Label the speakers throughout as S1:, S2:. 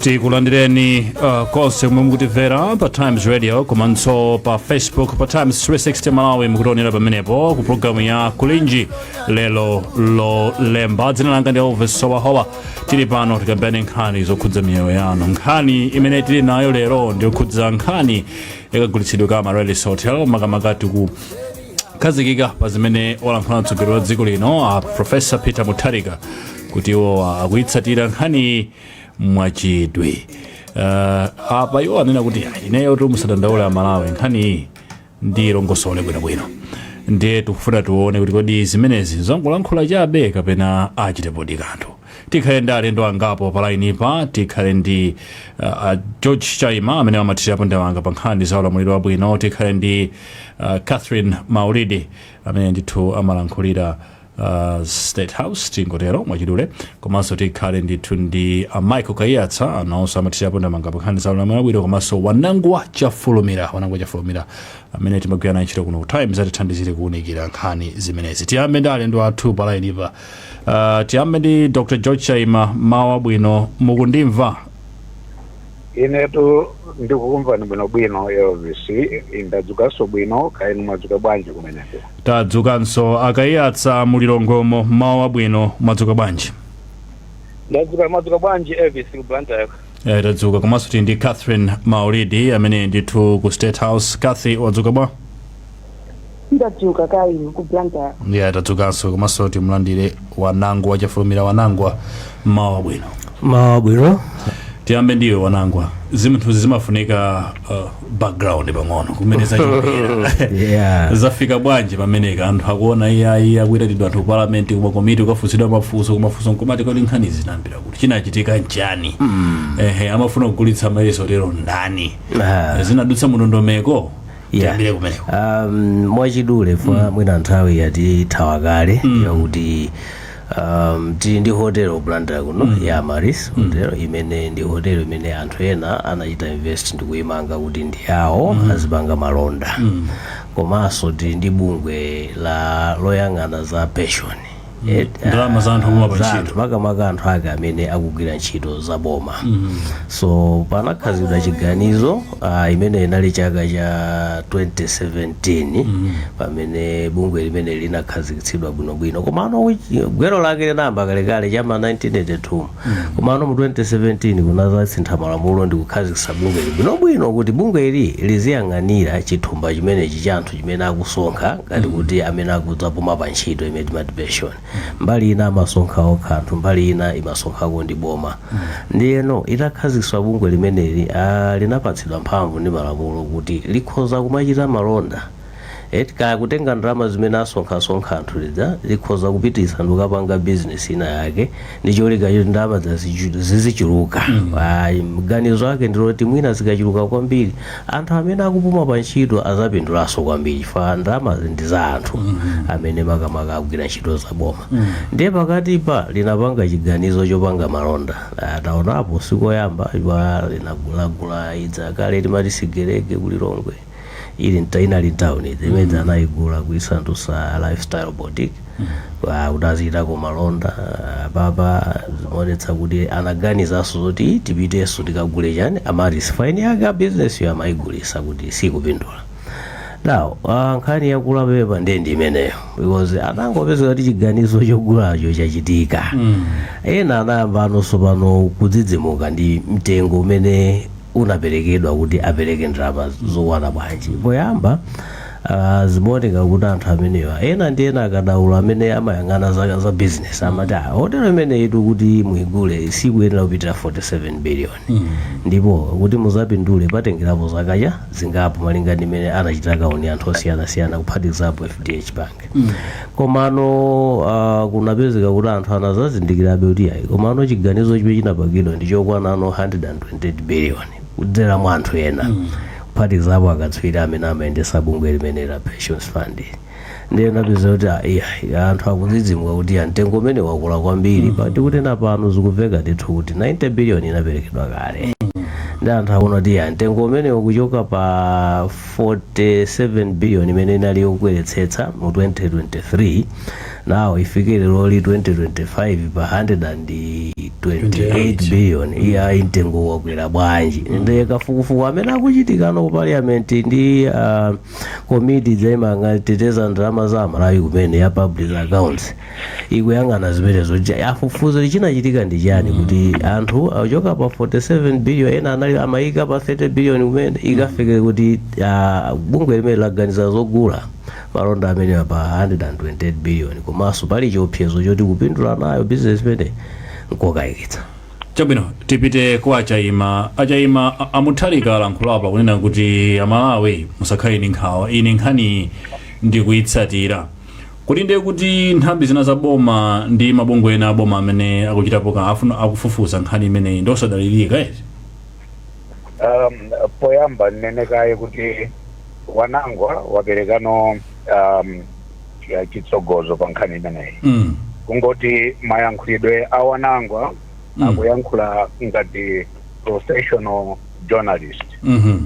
S1: tikulandireni uh, konse kumene mukutimvera pa times radio komanso pa facebook pa times 360 malawi mukutionera pamenepo ku programu ya kulinji lero lolemba dzina langa ndi elvis Howahowa tili pano tikambirane nkhani zokhudza miyoyo yanu nkhani imene tili nayo lero ndiyokhudza nkhani yakagulitsidwe ka amaryllis hotel makamaka tiku khazikika pa zimene walankhula mtsogoleri wa dziko lino a profesa peter mutharika kuti iwo akuyitsatira nkhaniyi mwachidwi uh, apa iwo anena kuti "Ah, ineyo tu musadandaule amalawi nkhaniyi ndiilongosole bwinobwino ndiye tikufuna tione kuti kodi zimenezi angolankhula chabe kapena achitepodi kanthu tikhale ndi alendo angapo pa lainipa tikhale ndi uh, uh, george chaima amene amathirirapo ndemanga pa nkhani za ulamuliro wabwino tikhale ndi uh, cathy maulidi amene ndithu amalankhulira uh, state house tingotero mwachidule komanso tikhale ndithu ndi uh, michael kaiyatsa nawonso amathirirapo ndemanga pa nkhani za ulamuliro wabwino komanso wanangwa chafulumira wanangwa chafulumira amene timagwira naye ntchito kuno ku times atithandizire kuwunikira nkhani zimenezi tiyambe ndi alendo athu pa lainipa Uh, tiyambe ndi dr george chaima mmawa wabwino mukundimva
S2: inetu ndikukumvani bwinobwino elvis ndadzukanso bwino kaya inu mwadzuka bwanji kumeneko tadzukanso
S1: a kaiyatsa mu lilongwemo mmawa wabwino mwadzuka bwanji
S2: ndadzuka mwadzuka bwanji elvis ku blantyre Eh, tadzuka komanso
S1: tili ndi catherine maulidi amene ndithu ku state house cathy wadzuka bwa
S3: ndadzuka kaya inu ku blantyre tadzukanso
S1: komanso timulandire wanangwa chafulumira wanangwa mmawa wabwino mmawa wabwino
S4: tiyambe ndiwe
S1: wanangwa zinthuzi zimafunika uh, background pang'ono kumene zachokera Yeah. zafika bwanji pamenepa anthu akuona iyayi akuitanidwa anthu ku parliament kumakomiti kukafunsidwa mafunso nkumati kodi nkhanizi zinayambira kuti chinachitika nchani ehe amafuna kugulitsa amaryllis hotel ndani Ah. zinadutsa mu ndondomeko Yeah. tiyambire kumeneko
S4: um, mwachidule chifukwa mm. mwina
S1: nthawi
S4: yatithawa kale mm. ndi yakuti um, tili ndi hotelo blantyre kuno mm. ya amaryllis hotelo mm. imene ndi hotelo imene anthu ena anachita invest nkuyimanga kuti ndi yawo mm. azipanga malonda mm. komanso tili ndi bungwe loyang'ana za pension Eh,
S1: ndalama za anthu omwe ali pantchito anthu makamaka
S4: anthu ake amene akugwira ntchito za boma so panakhazikitsidwa chiganizo uh, imene inali chaka cha 2017 pamene bungwe limeneli linakhazikitsidwa bwinobwino komano uchi- gwero lake linayamba kalekale chama 1982 komano mu 2017 kunadzasintha malamulo ndi kukhazikitsa bungwe ili bwinobwino kuti bungwe ili liziyang'anira chithumba chimenechi cha anthu chimene akusonkha ngati kuti amene akudzapuma pa ntchito imene timati pension mbali ina amasonkha okha anthu mbali ina imasonkhako ndi boma ndiyeno itakhazikitsa bungwe limeneli ah, linapatsidwa mphamvu ndi malamulo kuti likhoza kumachita malonda eti kaya kutenga ndalama zimene asonkhasonkha anthu zija likhoza kupititsa ndikukapanga bizinesi ina yake ndi cholinga choti ndalama zazichu- zizichuluka maganizo ake ndi oti mwina zikachuluka kwambiri anthu amene akupuma pa ntchito azapindulanso kwambiri chifukwa ndalamazi ndi za anthu amene makamaka agwira ntchito za boma ndiye pakatipa linapanga chiganizo chopanga malonda Ah, taonapo sikoyamba ipa linagula ija kale timati Sigelege ku Lilongwe ili nta inali Crown ija imene anayigula kuisandusa lifestyle boutique Ah, kuti azichitako malonda ah, apapa zimaonetsa kuti anaganizanso zoti tipitenso tikagule chani Amaryllis ine eni ake a business yo amayigulisa kuti sikupindula now ah, nkhani yakula apapa ndiye ndi imeneyo kuti anangopezeka kuti chiganizo chogulacho chachitika ena nkuyamba anthu pano kudzidzimuka ndi mtengo umene unaperekedwa kuti apereke ndalama zokwana bwanji poyamba ah, zimaoneka kuti anthu amenewa ena ndi ena akadaulo amene amayang'ana za, za business amati ah, hotelo imeneyitu kuti muigule sikuyenera kupitira 47 billion ndipo kuti muzapindule patengerapo zaka zingapo malinga ndi mmene anachita kauniuni anthu osiyanasiyana kuphatikizapo fdh bank komano uh, kunapezeka kuti anthu anadzazindikirabe kuti ayi komano chiganizo chimene chinapangidwa ndi chokwana ano 128 billion kudzera mwa anthu ena kuphatikizapo akatswiri amene amayendetsa bungwe limeneli la pensions fund ndiye mupeza kuti ah, iya, iya, anthu akudzidzimuka kuti ah, mtengo umenewu wakula kwambiri poti kuti panopa zikumveka ndithu kuti 90 billion inaperekedwa kale ndiye anthu akuona kuti ah, mtengo umenewu kuchoka pa 47 billion imene inali yokweretsetsa mu 2023 now ifike leroli 2025 pa 128 billion iyayi mtengo wakwera bwanji ndiye kafukufuku amene akuchitika ku parliament ndi uh, komiti ija imangoteteza ndalama za Amalawi imene ya public accounts ikuyang'ana zimenezo Je- afufuze kuti chinachitika ndi chani kuti anthu achoka pa 47 billion ena anali amayika pa 30 billion kumene ikafike kuti ah, bungwe limeneli laganiza zogula malonda amenewa pa 128 billion komanso pali chiopsezo choti kupindula nayo business imeneyi nkokayikitsa
S1: chabwino tipite kwa achaima achaima a- Mutharika alankhula apa kunena kuti Amalawi musakhale ndi nkhawa ine nkhani ndikuyitsatira Kodi ndiye kuti nthambi zina za boma ndi mabungwe ena aboma amene akuchitapo kapena akufufuza nkhani imeneyi ndi osadalirika eti? Um,
S2: poyamba nnene kaye kuti Wanangwa waperekano um, chitsogozo pa nkhani imeneyi Mm. kungoti mayankhulidwe a Wanangwa Mm. akuyankhula ngati professional journalist Mhm.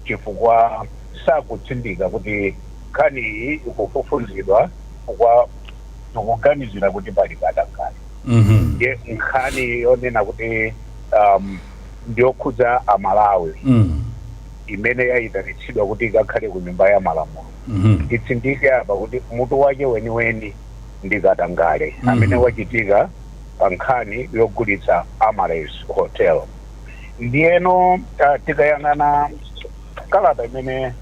S2: chifukwa sakutsindika kuti Nkhani iyi ikufufuzidwa chifukwa tikuganizira kuti pali katangale. Ndiye nkhani yonena kuti um, ndiyokhudza Amalawi imene yayitanitsidwa kuti ikakhale ku nyumba ya malamulo titsindike apa kuti mutu wake weniweni ndi katangale amene wachitika pa nkhani yogulitsa Amaryllis Hotel. Ndiyeno uh, tikayang'ana kalata imene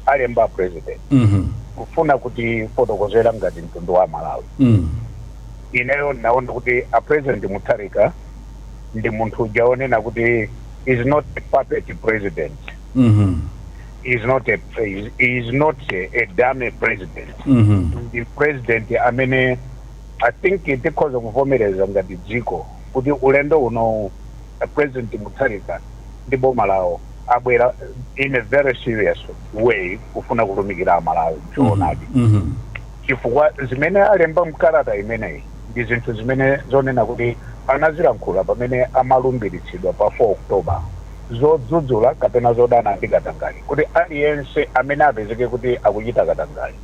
S2: alemba a president Mhm. kufuna kutifotokozera ngati mtundu wa amalawi Mm. ineyo naona kuti a president mutharika ndi munthu uja onena kuti he's not a puppet president Mhm. is not a is, is not a, a dummy president Mhm. ndi president amene i think tikhoza kuvomereza ngati dziko kuti ulendo uno a president mutharika ndi boma lawo abwera in a very serious way kufuna kutumikira amalawi choonadi Mhm. chifukwa zimene alemba mkalata imeneyi ndi zinthu zimene zonena kuti anazilankhula pamene amalumbiritsidwa pa 4 october zodzudzula kapena zodana ndi katangale kuti aliyense amene apezeke kuti akuchita katangale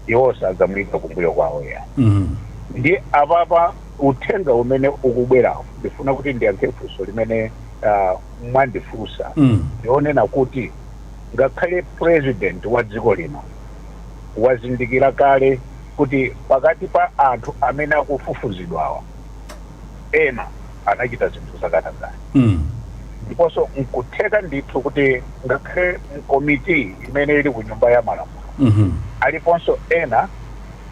S2: iwo sadzamuyika kumbuyo kwawo ya Mhm. ndi apapa uthenga umene ukubwerawo ndifuna kuti ndiyankhe funso limene ah, mwandifunsa Mm. ndi onena kuti ngakhale president wa dziko lino wazindikira kale kuti pakati pa anthu amene akufufuzidwawa ena anachita zinthu zakatangale Mm. ndiponso nkutheka ndithu kuti ngakhale mkomiti imene ili ku nyumba ya malamulo Mhm. aliponso ena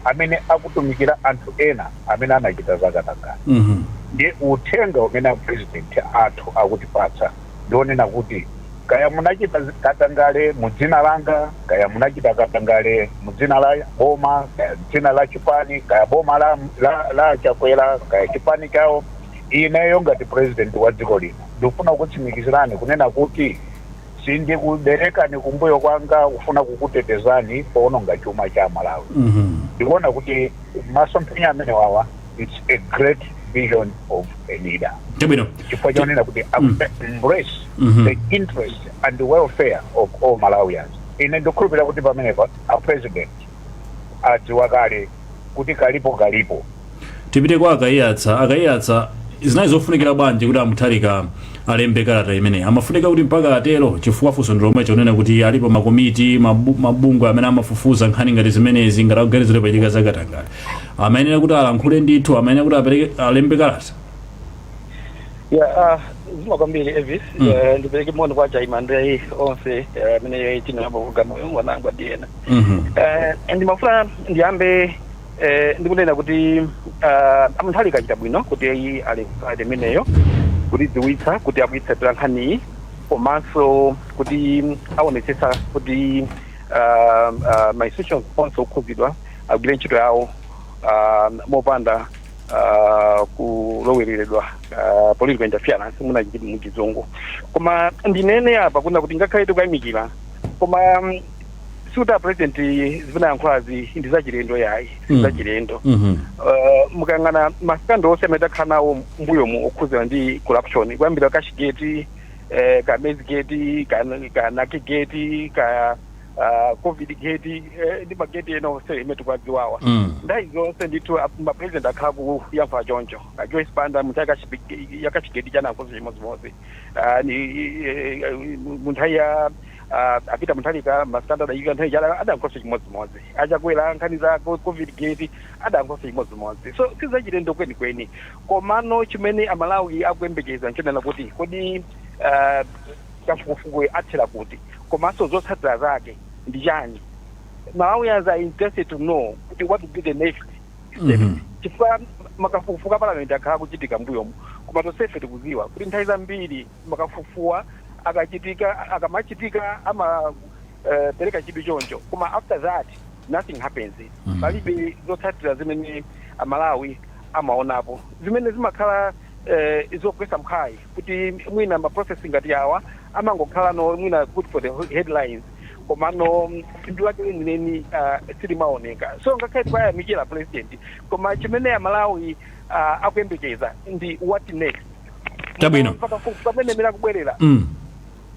S2: amene akutumikira anthu ena amene anachita zakatangale ndiye uthenga umene a president athu akutipatsa ndi onena kuti kaya munachita zi- katangale mu dzina langa kaya munachita katangale mu dzina la boma kaya dzina la chipani kaya boma la, la, la chakwera kaya chipani chawo ineyo ngati president wa dziko lino ndikufuna kutsimikizirani kunena kuti Sindikuberekani kumbuyo kwanga kufuna kukutetezani powononga chuma cha Malawi. Ndikuona kuti masomphenya amenewawa it's a great vision of a leader Chabwino. chifukwa chonena kuti embrace the interest and the welfare of all Malawians. Ine ndikukhulupirira kuti pamenepa a president adziwa kale kuti kalipo kalipo tipite
S1: kwa a Kaiyatsa a Kaiyatsa zinali zofunikira bwanji kuti a Mutharika alembe kalata imeneyi amafunika kuti mpaka atero chifukwa funso ndi lomwelo kunena kuti alipo makomiti mabu- mabungwe amene amafufuza nkhani ngati zimenezi ngati akuganizira pachitika zakatangale amayenera kuti alankhule ndithu amayenera kuti apereke alembe kalata ya
S5: ah, zikomo kwambiri Elvis Mm. Eh, ndipereke moni kwa a Chaima ndi onse eh, amene tili nawo pa programu uyu wanangu adiyena Mhm. Eh, ndimafuna ndiyambe eh, ndikunena kuti ah, a Mutharika achita bwino kuti ayi alembe kalata imeneyo kutidziwitsa kuti akuyitsatira nkhaniyi komanso kuti aonetsetsa kuti ah, ah, ma institutions onse okhudzidwa agwire ntchito yawo ah, mopanda uh, kulowereredwa uh, political interference timati muchizungu koma ndinene apa kunena kuti ngakhale tikuyamikira koma um, sikuti a president zimene ayankhulazi ndi zachilendo ayi Mm. sizachilendo Mhm. uh, mukayang'ana ma scandal onse amene takhala nawo m'mbuyomu okhuzana ndi corruption kuyambira cashgate eh, ka maizegate ka, ka nakigeti ka ah, covid gate eh, ndi mageti ena onse amene tikuwadziwawa Mm. nthawi zonse ndithu ap- mapresident akhala akuyankhula choncho Ah, Joyce Banda munthawi ya cash- ya cashgate anayankhanso chimodzimodzi Ah, ni- i- i- i- mu nthawi ya ah, a Peter Mutharika ma scandal achitika nthawi ija adayankhanso chimodzimodzi a Chakwera nkhani za co- covid gate adayankhanso chimodzimodzi so sizachilendo kwenikweni komano chimene amalawi akuyembekeza nchonena kuti kodi ah, kafukufukuyu athera kuti komanso zotsatira zake ndi chani Malawians are interested to know kuti what will be the next step Mhm. chifukwa makafukufuku a parliament akhala akuchitika m'mbuyomu koma tonsefe tikudziwa kuti nthawi zambiri makafukufukuwa akachitika akamachitika amapereka chidwi choncho koma after that nothing happens Mhm. palibe zotsatira zimene amalawi amaonapo zimene zimakhala eh, zogwetsa mphwayi kuti mwina ma process ngati awa amangokhalano mwina good for the headlines komano phindu lake lenileni ah, silimaoneka so ngakhale tikuyamikira president koma chimene amalawi ah, akuyembekeza ndi what next Chabwino.
S1: Mpaka fu- pamene
S5: mera kubwerera mm.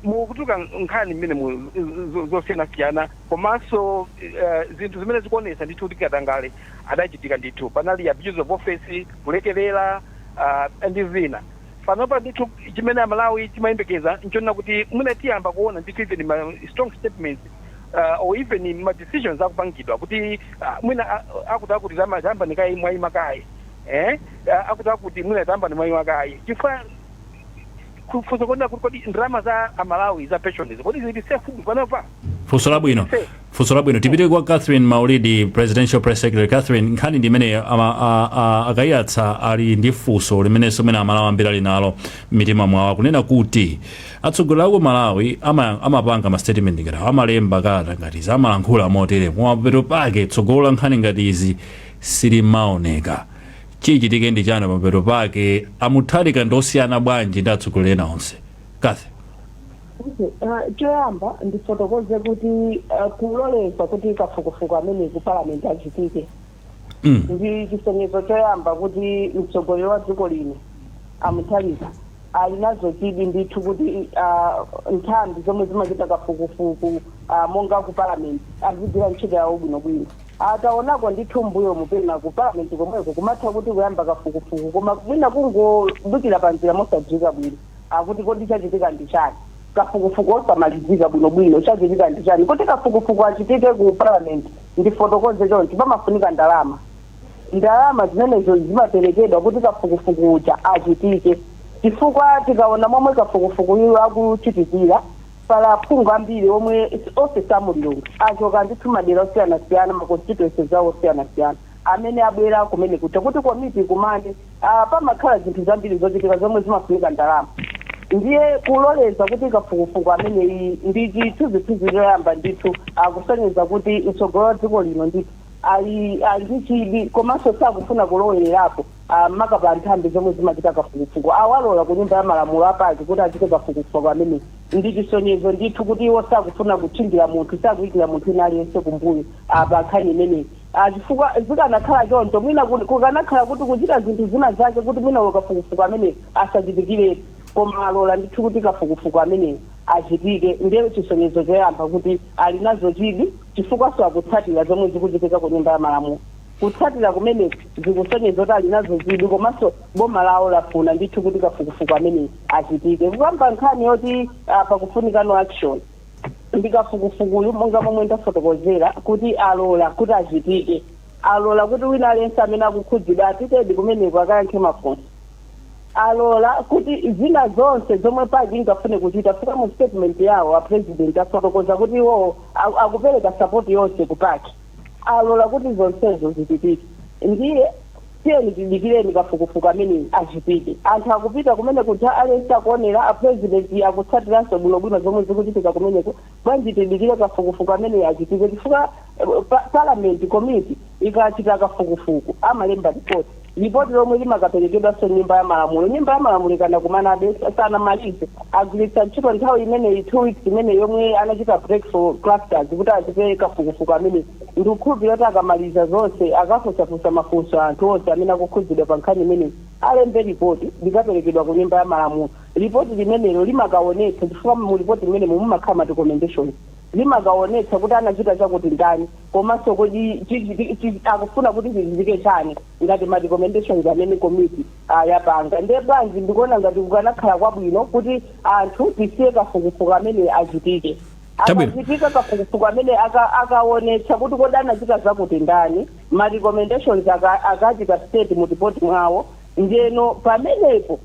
S5: mukutuluka nkhani mmene mu zo- zosiyanasiyana komanso eh, zinthu zimene zikuonetsa ndithu kuti katangale adachitika ndithu panali abuse of office kulekerera aah ndi zina panopa ndithu chimene amalawi timayembekeza nchonena kuti mwina tiyamba kuona ndithu even ma strong statements aah or even ma decisions akupangidwa kuti aah mwina akuti akuti tayambani kaye mwaima kaye eeh akuti akuti mwina tayambani mwaima kaye chifukwa funso nkunena kuti kodi ndalama za amalawi za pension izi kodi zili safe panopa? Funso labwino.
S1: funso labwino tipite kwa catherine maulidi presidential press secretary catherine nkhani ndi imene ama- a- a- akayatsa ali ndi funso limenenso mwina Amalawi ambiri ali nalo m'mitima mwawo akunena kuti atsogoleri aku malawi ama- amapanga mastatement ngati awa, amalemba kalata ngati izi amalankhula motere kumapeto pake tsogolo la nkhani ngati izi silimaoneka chichitike ndi chani pamapeto pake amutharika ndi osiyana bwanji ndi atsogoleri ena onse catherine
S3: Choyamba ndifotokoze kuti kuloleza kuti kafukufuku ameneyu ku Parliament achitike ndi chisonyezo choyamba kuti mtsogoleri wa dziko lino a Mutharika ali nazo chidwi ndithu kuti nthambi zomwe zimachita kafukufuku monga ku Parliament azigwira ntchito yawo bwinobwino. Taonako ndithu m'mbuyomu pena ku Parliament komweko kumatha kuti kuyamba kafukufuku koma mwina kungobukira panjira mosadziwika bwino. akuti kodi chachitika ndi chani? kafukufuku osamalizika bwinobwino, chachitika ndi chani? kuti kafukufuku achitike ku parliament, ndifotokoze chonchi, pamafunika ndalama, ndalama zimenezo zimaperekedwa kuti kafukufuku uja achitike, chifukwa tikaona momwe kafukufukuyu akuchitikira, pali aphungu ambiri omwe si, onse si a mu Lilongwe, achoka ndithu madera osiyanasiyana ma constituency awo osiyanasiyana, amene abwera kumene kuja kuti komiti ikumane. Pamakhala zinthu zambiri zochitika zomwe zimafunika ndalama ndiye kuloleza kuti kafukufuku ameneyi ndi chithunzithunzi choyamba ndithu akusonyeza kuti mtsogoleri wa dziko lino ndithu ali ali ndi chidwi komanso sakufuna kulowererapo maka pa nthambi zomwe zimachita kafukufuku awalola ku nyumba ya malamulo a PAC kuti achite kafukufuku ameneyi ndi chisonyezo ndithu kuti iwo sakufuna kutchingira munthu sakuyikira munthu wina aliyense kumbuyo pa nkhani imeneyi. a Chifukwa, zikanakhala choncho, mwina ku, kukanakhala kuti kuchita zinthu zina zake kuti mwina uyo kafukufuku ameneyo asachitikiretu, koma alola ndithu kuti kafukufuku ameneyo achitike, ndi chisonyezo choyamba kuti ali nazo chidwi chifukwanso akutsatira zomwe zikuchitika ku Nyumba ya Malamulo. Kutsatira kumeneku zikusonyeza kuti ali nazo chidwi komanso boma lawo lafuna ndithu kuti kafukufuku ameneyu achitike. Kukamba nkhani yoti, a, pakufunika no action. ndi kafukufukuyu monga momwe ndafotokozera kuti alola kuti achitike. Alola kuti wina aliyense amene akukhudzidwa apitedi kumeneko akayankhe mafunso. Alola kuti zina zonse zomwe pac ingafune kuchita chifukwa mu statement yawo a President afotokoza kuti iwowo a- akupereka support yonse ku pac. Alola kuti zonsezo zichitike. Ndiye Tiyeni tidikireni kafukufuku ameneyu achitike. Anthu akupita kumeneko aliyense akuonera, a president akutsatiranso bwinobwino zomwe zikuchitika kumeneko. Bwanji tidikire kafukufuku ameneyu achitike chifukwa parliament committee ikachita kafukufuku amalemba report, report lomwe limakaperekedwanso nyumba ya malamulo. Nyumba ya malamulo ikadakumanabe sanamalize, agwiritsa ntchito nthawi imeneyi two weeks imeneyi yomwe anachita break for clusters kuti achite kafukufuku ameneyu. Ndikukhulupirira kuti akamaliza zonse, akafunsafunsa mafunso anthu onse amene akukhudzidwa pa nkhani imeneyi, alembe lipoti, likaperekedwa ku Nyumba ya Malamulo. Lipoti limenelo limakaonetsa, chifukwa mu lipoti limenemo mumakhala ma recommendations, limakaonetsa kuti anachita chakuti ndani komanso kodi akufuna kuti chichitike chani ngati ma recommendations amene komiti yapanga. Ndiye bwanji, ndikuona ngati kukanakhala kwabwino kuti anthu tisiye kafukufuku ameneyu achitike. Chabwino. akachitika kafukufuku amene aka- akaonetsa kuti kodi anachita zakuti ndani ma recommendations aka- akachita state mu report mwawo ndeno pamenepo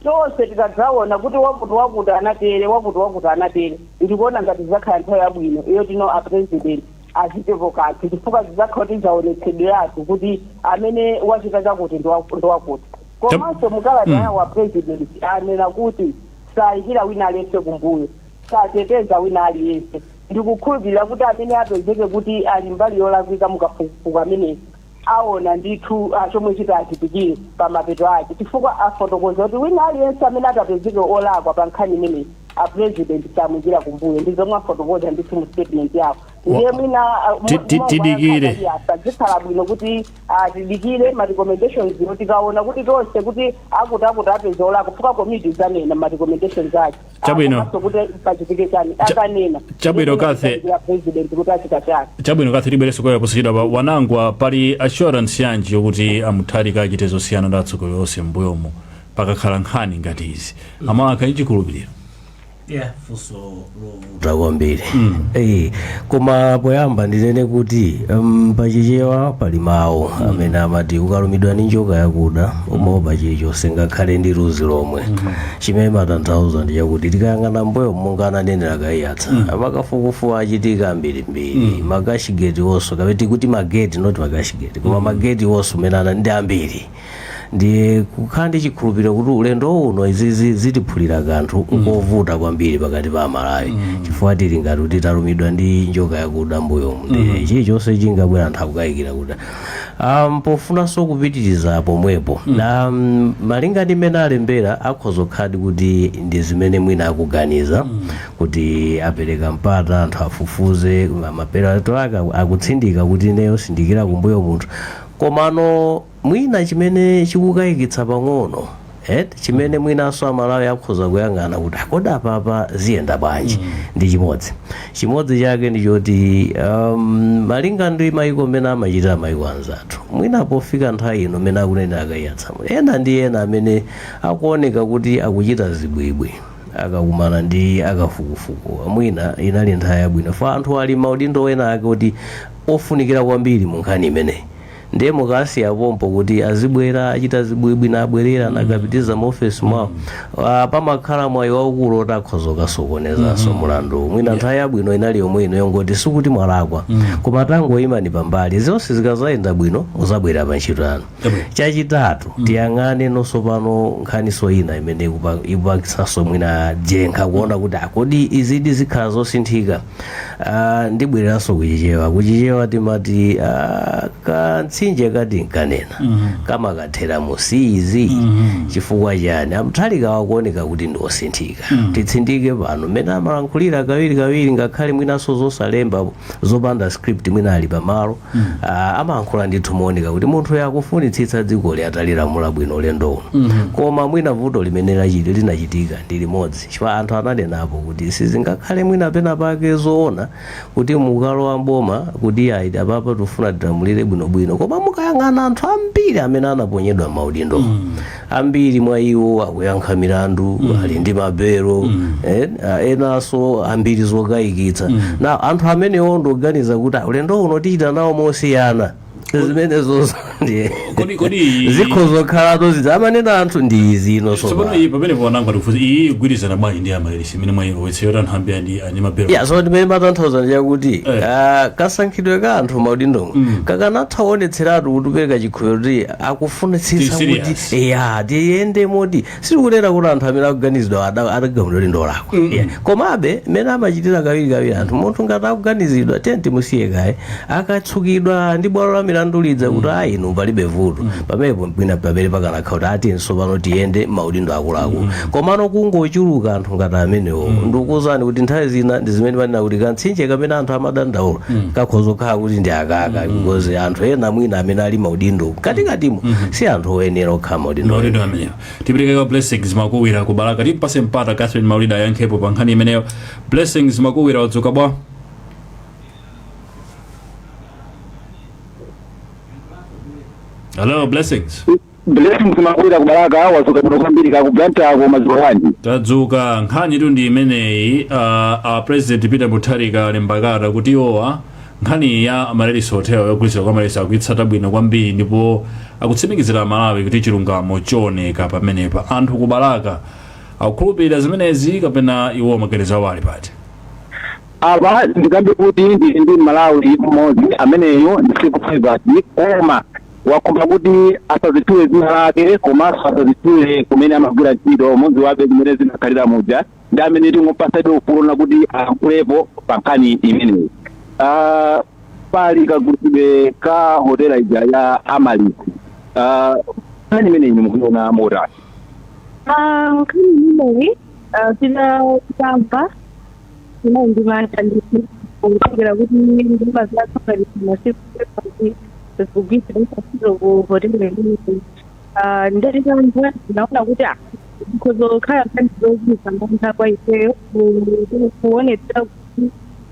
S3: tonse tikadzaona kuti wakuti wakuti anatere wakuti wakuti anatere ndikuona ngati izakhala nthawi yabwino yotino a president achitepo kanthu chifukwa zizakhala kuti zaonetsedweratu kuti amene wachita chakuti ndi waku- ndi wakuti komanso mukalata yawo a president anena kuti sayikira wina aliyense kumbuyo sateteza wina aliyense. Ndikukhulupirira kuti amene apezeke kuti ali mbali yolakwika mu kafukufuku ameneyu aona ndithu chomwe chitachitikire pamapeto ake chifukwa afotokoza kuti wina aliyense amene atapezeke olakwa pa nkhani imeneyi a President samuikira kumbuyo. Ndi zomwe afotokoza ndithu mu statement yawo. Ndiye mwina ah, mo- Ti- ti- momwe ankhani
S1: tidikire. ali apa
S3: zikhala bwino kuti ah, tidikire ma recommendations-wo tikaona kuti tonse kuti akutiakuti apezeka olakwa chifukwa komiti izanena ma recommendations ake. Chabwino. Komanso
S1: kuti
S3: pachitike chani akanena Chabwino, Kathy.
S1: Ndikulandira president
S3: kuti achita chani chabwino Kathy tibwereranso kwa
S1: inu posachedwa a Wanangwa pali assurance yanji yokuti a Mutharika achite zosiyana ndi atsogoleri onse m'mbuyomo pakakhala nkhani ngati izi Amalawi akhale ndi chikhulupiriro
S4: yeah funso lovuta kwambiri Eh, koma poyamba ndinene kuti um, pachichewa pali mawu amene amati ukalumidwa ndi njoka yakuda umaopa chilichonse ngakhale ndi luzi lomwe chimene chimatanthauza ndi chakuti tikayang'ana mbuyo monga ananenera a Kaiyatsa makafukufuku achitika ambirimbiri makashigeti onso kapena tikuti mageti not makashigeti koma mageti onso amene aja ndi ambiri ndiye kukhala ndi chikhulupiriro kuti ulendo uno izizi zitiphulira kanthu nkovuta kwambiri pakati pa amalawi chifukwa tili ngati kuti talumidwa ndi njoka yakuda mbuyomu ndiye chilichonse chingabwera anthu akukayikira kuti um, pofunanso kupitiriza pomwepo na um, malinga ndi mmene alembera akhoza kukhaladi kuti ndi zimene mwina akuganiza kuti apereka mpata anthu afufuze ma- mapeto ake aku- akutsindika kuti ineyo sindiikira kumbuyo munthu komano mwina chimene chikukayikitsa pang'ono eti chimene mwinanso amalawi akhoza kuyang'ana kuti "Ah, kodi apapa ziyenda bwanji ndi chimodzi chimodzi chake ndi choti um, malinga ndi mayiko mmene amachitira mayiko anzathu mwina pofika nthawi ino mmene akunenera akayitsa amuna ena ndi ena amene akuoneka kuti akuchita zibwibwi akakumana ndi akafukufuku mwina inali nthawi yabwino ya anthu ali m'maudindo ena ake kuti ofunikira kwambiri mu nkhani imeneyi ndiye mukasiya pompo kuti azibwera achita zibwibwi nabwerera nakapitiriza mu ofesi mwawo Ah, pamakhala mwayi waukulu woti akhoza kukasokonezanso mulandu mwina nthawi yabwino inali yomwe ino yongoti sikuti mwalakwa koma tangoyimani pambali zonse zikazayenda bwino muzabwerera pa ntchito yanu Chabwino. chachitatu tiyang'aneno tsopano nkhaniso ina imene ikupa- ikupatsanso mwina njengunje kuona kuti ah kodi izidi zikhala zosinthika Ah, ndibwereranso kuchichewa kuchichewa timati ah, kamtsinje ka Tinkanena kamakathera mu Siizi chifukwa chani a Mutharika akuoneka kuti ndi osinthika titsindike pano mmene amalankhulira kawiri kawiri ngakhale mwinanso zosalemba zopanda script mwina ali pamalo ah, amalankhula ndithu mooneka kuti munthuyo akufunitsitsa dzikoli atalilamula bwino ulendo uno koma mwina vuto limene lachiti linachitika ndi limodzi chifukwa anthu ananenapo kuti sizingakhale mwina pena pake zoona kuti mukalowa m'boma kuti ayi apapa tifuna tilamulire bwinobwino koma mukayang'ana anthu ambiri amene anaponyedwa m'maudindo ambiri mwa iwo akuyankha milandu ali ndi mabelo eh, ah, enanso a mbiri zokayikitsa na anthu amenewo ndikuganiza kuti ah, ulendo uno tichita nawo mosiyana zimenezo ndi- Kodi- kodi- zikhoza kukhalatu zimene amanena anthu ndi izi ino tsopano sopano iyi pamene
S1: ponanga ndikufunsa iyi ikugwirizana bwanji ndi analysis imene mwayilowetsa yoti anthu ambiri andi andi mabelo ya so zimene ndimatanthauza
S4: ndi chakuti Eh. ah, kasankhidwe ka anthu m'maudindomo kakanatha kuonetseratu kuti kupereka chikhulupiriro kuti akufunitsitsa Tili kuti serious. eya tiyende moti sitikunena kuti anthu amene akuganizidwa adagamulidwa kuti ndi olakwa Yeah. komabe mmene amachitira kawirikawiri anthu munthu ngati akuganizidwa tiye timusiye kaye akatsukidwa ndi bwalo la milandu lidza kuti ayi inu palibe vuto pamenepo mwina pamenepo pakanakhala kuti ah tiyeni tsopano tiyende maudindo akuluakulu komano kungochuluka anthu ngati amenewo ndikukuwuzani kuti nthawi zina ndi zimene panena kuti kantsinje kamene anthu amadandaula kakhoza kukhala kuti ndi akakhala because anthu ena mwina amene ali maudindo katikatimo si anthu oyenera okhala maudindo maudindo amenewo
S1: tipereke kwa blessings makuwira ku balaka timpase mpata catherine maulida ayankhepo pa nkhani imeneyo blessings makuwira wadzuka bwa hello blessings
S6: Blessings Makuwira ku Balaka wadzuka bwino kwambiri kaya ku Blantyre ko mwadzuka bwanji. tadzuka
S1: nkhanitu ndi imeneyi uh, a president peter mutharika alemba kalata kuti iwowa nkhani ya amaryllis hotel yogulitsa kwa amaryllis akuitsata bwino kwambiri ndipo akutsimikizira amalawi kuti chilungamo chioneka pamenepa anthu ku balaka akukhulupirira zimenezi kapena iwo maganizo awo ali pati Apa
S6: ndikambe kuti ndili ndi Mmalawi mmodzi ameneyo ndisiku private koma wakumba kuti asadzitchule dzina lake komanso asadzitchule kumene amagwira ntchito mudzi wake mmene zimakhalira muja ndi amene tingowapatsabe ufulu kuti alankulepo pa nkhani imeneyi Ah, pali kagulitsidwe ka hotela ija ya amaryllis Ah, nkhani imeneyi mukuiona motani Ah,
S7: nkhani imeneyi ah, tina- tinamva Ndinali ndi mantha ndithu kutengera kuti ndalama zathu ngati masiku kuti zikugwiritsidwa ntchito ku hoteli imeneyi. Ah, Nditatamva ndinaona kuti ah, zikhoza kukhala nkhani zochititsa mantha kwa ifeyo ku- ku- kuonetsa kuti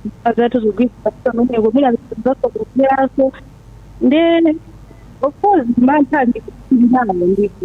S7: ndalama zathu zikugwiritsidwa ntchito kumeneko mwina zasokonekeranso nde of course mantha ndinali nawo ndithu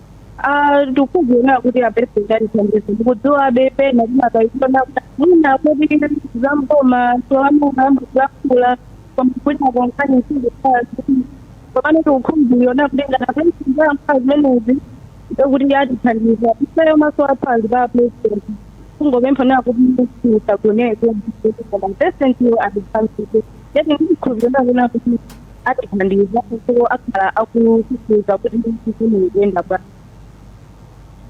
S7: Ah, ndikudzionera kuti apresident atithandiza ndikudziwabe pena timakaiona mwina kuti zamboma tiwamuna ambuzakula koma kuti akonkhani nsiziaa komane ndikukhumbuliona kuti ngati apresident ayankhula zimenezi ndekuti atithandiza ifeyo maso athu ali pa president kungopempha nayo kuti tisagoneke koma presidentiyo atithandize yati ndikhulupirira kuti atithandiza ndipo akhala akufufuza kuti zinthu zikuyenda bwanji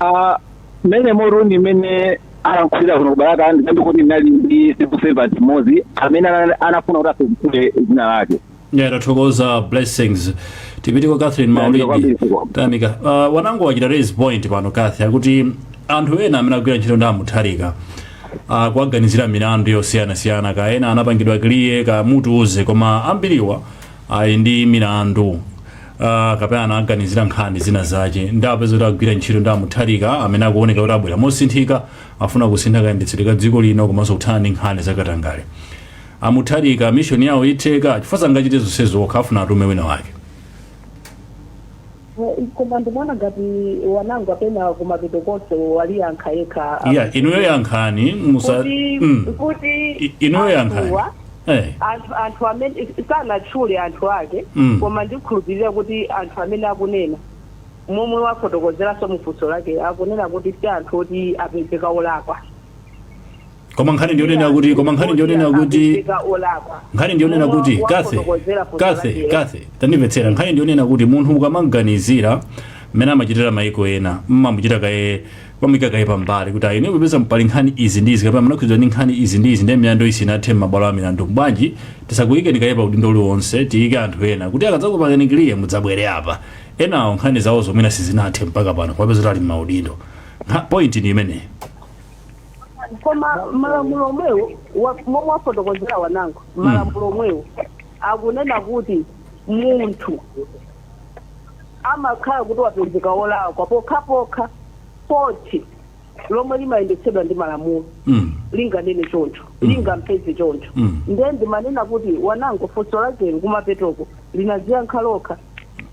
S6: Ah, mmene munthu amene alankhulira kuno ku balaka ndikambe kuti ndinali ndi civil servant mmodzi amene ana- anafuna kuti asatchule dzina lake yeah
S1: tathokoza blessings tipite kwa catherine Yeah, maulida ndikabiri siko. tamika uh, wanangwa wachita raise point pano kathy akuti anthu ena amene agwira ntchito ndi amutharika a kuwaganizira milandu yosiyanasiyana kaya ena anapangidwa clear kaya mutiuze koma ambiriwa ali ndi milandu uh, kapena anaganiziridwa nkhani zina zake nde apezeka kuti agwira ntchito ndi amutharika amene akuoneka kuti abwera mosinthika afuna kusintha kayendetsedwe ka dziko lino komanso kuthana ndi nkhani zakatangale amutharika mishoni yawo itheka chifukwa sangachite zonsezo okha afuna atume wina wake
S3: Koma ndimaona ngati Wanangwa pena kumapeto konse waliyankha yekha iya inuyo
S1: yankhani musa kuti mm. kuti
S3: I- inuyo yankhani anthuwa, eh. anthu anthu amene sanatchule anthu ake Mm. koma ndikhulupirira kuti anthu amene akunena momwe wafotokozeranso mufunso lake akunena kuti si anthu oti apezeka olakwa
S1: koma nkhani ndiyonena kuti koma nkhani ndiyonena kuti Apezeka olakwa nkhani ndiyonena kuti Mulungu kathe wafotokozera funso kathe lake. kathe tandimvetsera nkhani ndiyonena kuti munthu ukamaganizira mmene amachitira maiko ena mmamuchita kaye pamuyika kaye pambali kuti ayi nkupeza pali nkhani izi ndi izi kapena munakhudzidwa ndi nkhani izi ndi izi ndi milandu isinathe m'mabwalo a milandu bwanji tisakuyikeni kaye pa udindo uliwonse tiyike anthu ena kuti akadzakupangani kiliye mudzabwere apa enawo nkhani zawo zomwe sizinathe mpaka pano kwapeza kuti ali m'maudindo Nkha- point ni imeneyi
S3: koma malamulo omwewo wa- momwe wafotokozera Wanangwa malamulo omwewo akunena kuti munthu amakhala kuti wapezeka wolakwa pokhapokha khoti lomwe limayendetsedwa ndi malamulo Mm. linganene choncho lingampeze choncho Mm. ndiye ndimanena kuti Wanangwa funso lake kumapetoko linaziyankha lokha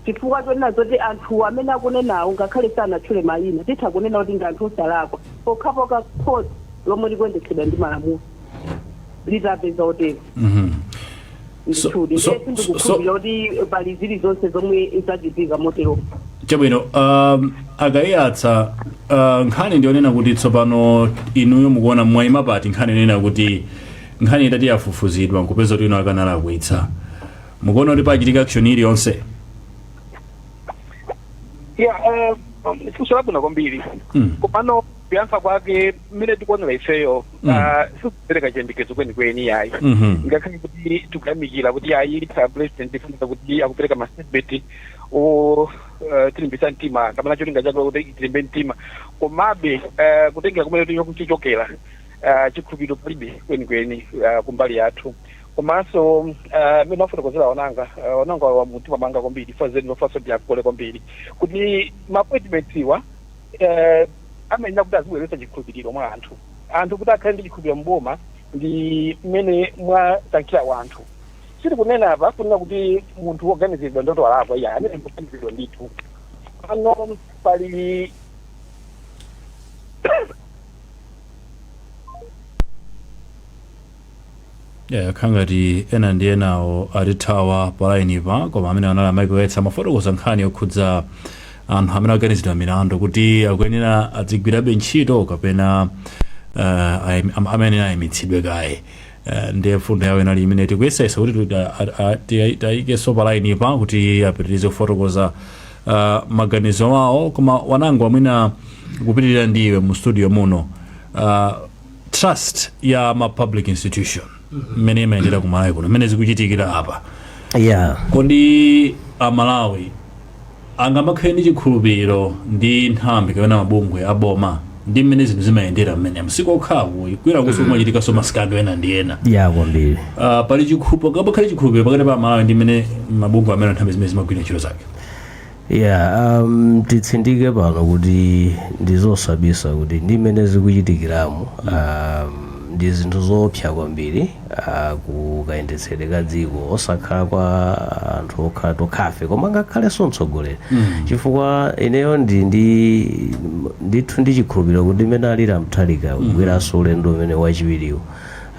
S3: Chifukwa chonena zoti anthuwo amene akunenawo ngakhale sanatchule mayina, titha kunena kuti ndi anthu osalakwa pokhapokha khoti lomwe likuyendetsedwa ndi malamulo litapeza otero. Ndithudi, ndiye sindikukhulupirira kuti pali zilizonse zomwe zachitika moteromo.
S1: Chabwino, um, a Kaiyatsa uh, nkhani ndiyonena kuti tsopano inuyo mukuona mwaima pati nkhani nkunena kuti nkhani itati yafufuzidwa nkupeza kuti enawo akanalakwitsa mukuona kuti pachitika action
S5: iliyonse ya eh, funso labwino kwambiri Mm. komano kuyankha kwake mmene tikuonera ifeyo Mm. ah, sikupereka chiyembekezo kwenikweni yayi Mhm. ngakhale kuti tikuyamikira kuti ayi a president tifunira kuti akupereka mastatement oti eh, tilimbitsa mtima kapena cholinga chake kuti tilimbe mtima komabe eh, kutengera kumene tikuchokera chikhulupiriro palibe kwenikweni ah, kumbali yathu komanso mmene wafotokozera Wanangwa Wanangwa walowa mumtima mwanga kwambiri chifukwa zeni lofanso ndiyagole kwambiri kuti maappointmentiwa amayenera kuti azibweretsa chikhulupiriro mwa anthu anthu kuti akhale ndi chikhulupiriro mboma ndi mmene mwasankhira wanthu sitikunena apa kunena kuti munthu woganiziridwa ndiwoti walakwa iya amene akuganiziridwa ndithu pano pali
S1: Yeah, yakhala ngati ena ndi enawo atithawa palainipa koma amene anali amaiko yetsa amafotokoza nkhani yokhudza anthu amene aganizidwa milandu kuti akuyenera adzigwirabe ntchito kapena uh, ayim- am- amene ayimitsidwe kaye uh, ndiye mfundo yawo inali imene tikuyesayesa kuti tuta- a- a- ti- tayikenso palainipa kuti apitirize kufotokoza uh, maganizo awo koma Wanangwa mwina kupitirira ndi iwe mu studio muno uh, trust ya ma public institution mmene imayendera ku malawi kuno mmene zikuchitikira apa yeah kodi amalawi angamakhale ndi chikhulupiriro ndi nthambi kapena mabungwe aboma ndi mmene zinthu zimayendera mmene m'masiku okhawa kwinakunso kumachitikanso ma scandal ena ndi ena yeah kwambiri Ah,
S4: pali
S1: chikhulupiriro pangakhale chikhulupiriro pakati pa amalawi ndi mmene mabungwe amene nthambi zimene zimagwira ntchito zake Yeah,
S4: um, titsindike pano kuti ndizosabisa kuti ndi mmene zikuchitikiramu um, ndi zinthu zoopsa kwambiri uh, ku kayendetsedwe ka dziko osakhala kwa anthu okha tokhafe koma ngakhalenso mtsogoleri chifukwa ineyo ndi ndi ndithu ndi chikhulupiriro kuti mmene alili a Mutharika kubweranso ulendo uwo wachiwiriwu